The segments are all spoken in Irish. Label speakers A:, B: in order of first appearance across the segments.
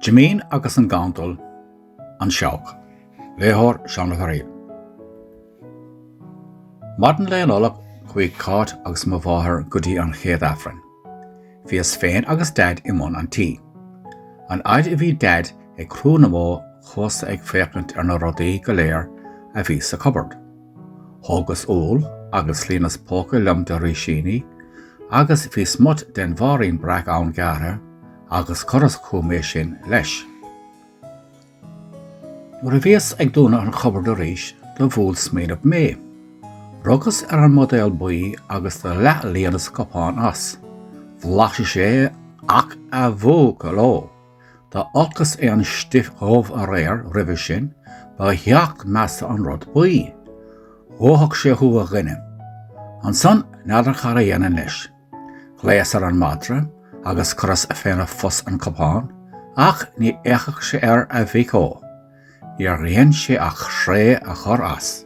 A: Jimín agus an Gandal, An Seabhac. Léitheoir, Seán Ó Fearaíl. Maidin lae Nollag chuaigh Cáit agus mo mháthair go dtí an chéad Aifreann. Bhíos féin agus Daid i mbun an tí. An fhaid a bhí Daid ag crú na mbó chuas-sa ag féachaint ar na rudaí go léir a bhí sa cupboard. Thógas úll agus líonas póca liom de rísíní agus bhí smut den bhairín breac ann gearrtha agus chuireas chugam é sin leis. Nuair a bhíos ag dúnadh an chupboard arís do bhuail smaoineamh mé. Rugas ar an mbuidéal buí agus do leath-líonas cupán as. Bhlaiseas é ach a bhuachaill ó! Dá olcas é an stuif dhubh aréir roimhe sin, ba sheacht measa an rud buí. Dhófadh sé thú a dhuine. Ansan, n'fheadar cad a dhéanfainn leis. Ghlaos ar an madra, agus chuireas féna phus an cupán, ach ní fhéachfadh sé air a mhic ó. Níor dhein sé ach sraoth a chur as.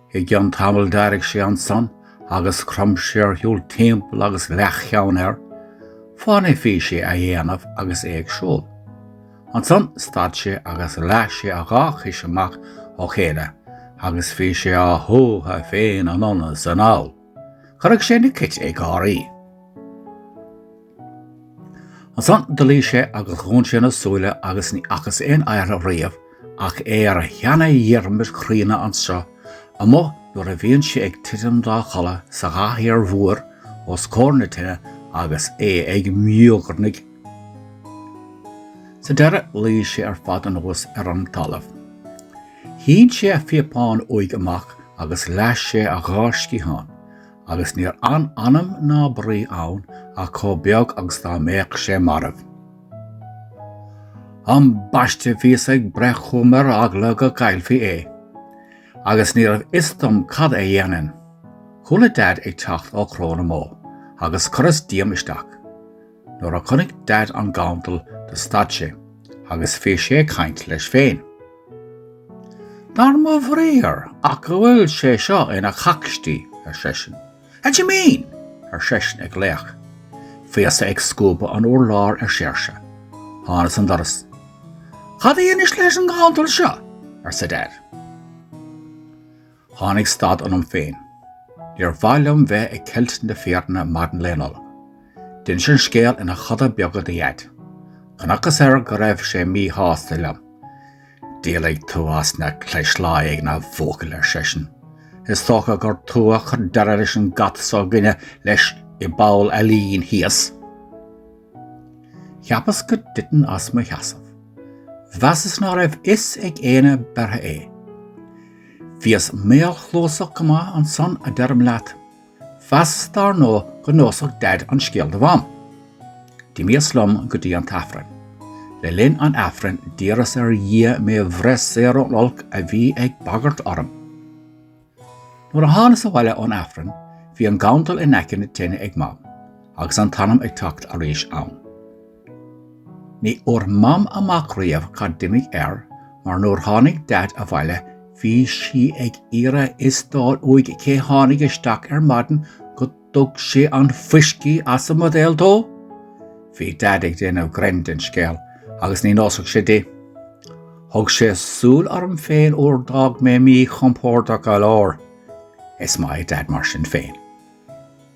A: I gcionn tamaill d'éirigh sé ansan agus chrom sé ar shiúl timpeall agus leathcheann air fáinne a bhí sé a dhéanamh agus é ag siúl. Ansan stad sé agus leath sé a dhá chois amach ó chéile agus bhí sé á shuathadh féin anonn is anall. Chuirfeadh sé na cait ag gáirí. Ansan do luigh sé agus dhún sé na súile agus ní fhacas aon oidhre riamh ach é ar a sheana-Dhiarmaid chríonna anseo amuigh nuair a bhíonn sé ag titim dá chodladh sa gcathaoir mhór os comhair na tine agus é ag míogarnaigh. Sa deireadh luigh sé ar fad anuas ar an talamh. Shín sé a phíopán uaidh amach agus leath sé a dhá sciathán, Agus níor fhan anam ná brí ann ach chomh beag agus dá mbeadh sé marbh. Ambaiste bhíos ag breith chugam ar eagla go gcaillfí é. Agus ní raibh fhios dom cad é dhéanfainn. Chuala Daid ag teacht ó chró na mbó, agus chuireas díom isteach. Nuair a chonaic Daid an gandal do stad sé agus bhí sé ag caint leis féin. Dar mo bhriathar ach go bhfuil sé seo ina chocstí, ar seisean. A Jimín, ar seisean ag glaoch. Bhíos-sa ag scuabadh an urláir ar séirse. Thánas an doras. Cad a dheinis leis an ngandal seo? arsa Daid. Tháinig stad ionam féin. Níor mhaith liom bheith ag ceilt na fírinne maidin lae Nollag. D'inseas an scéal ina choda beaga do Dhaid. Chonacthas air go raibh sé míshásta liom. Díolfaidh tú as na clis lá éigin, a bhuachaill, ar seisean. Is dócha gur tú a chuir deireadh leis an gcat s'againne leis i bPoll an Lín thíos. Cheapas go dtitfinn as mo sheasamh. Mheasas ná raibh fhios ag éinne beirthe é. Bhíos maolchluasach go maith ansan, a deirim leat. Mheasas dar ndóigh go neosfadh Daid an scéal do Mham. D'imíos liom go dtí an tAifreann. Le linn an Aifrinn d'iarras ar Dhia mé bhreith saor ón olc a bhí ag bagairt orm. Nuair a thánas abhaile ón Aifreann bhí an gandal in aice na tine ag Mam, agus an t-anam ag teacht arís ann. Ní fhuair Mam amach riamh cad d'imigh air mar nuair tháinig Daid abhaile bhí sí ag iarraidh fhios d'fháil uaidh cé tháinig isteach ar maidin go dtug sé an fuiscí as an mbuidéal dó! Bhí Daid ag déanamh grinn den scéal agus ní neosfadh sé di. Thug sé súil orm féin uair d'fhág mé mí-chompordach go leor. Is maith é Daid mar sin féin.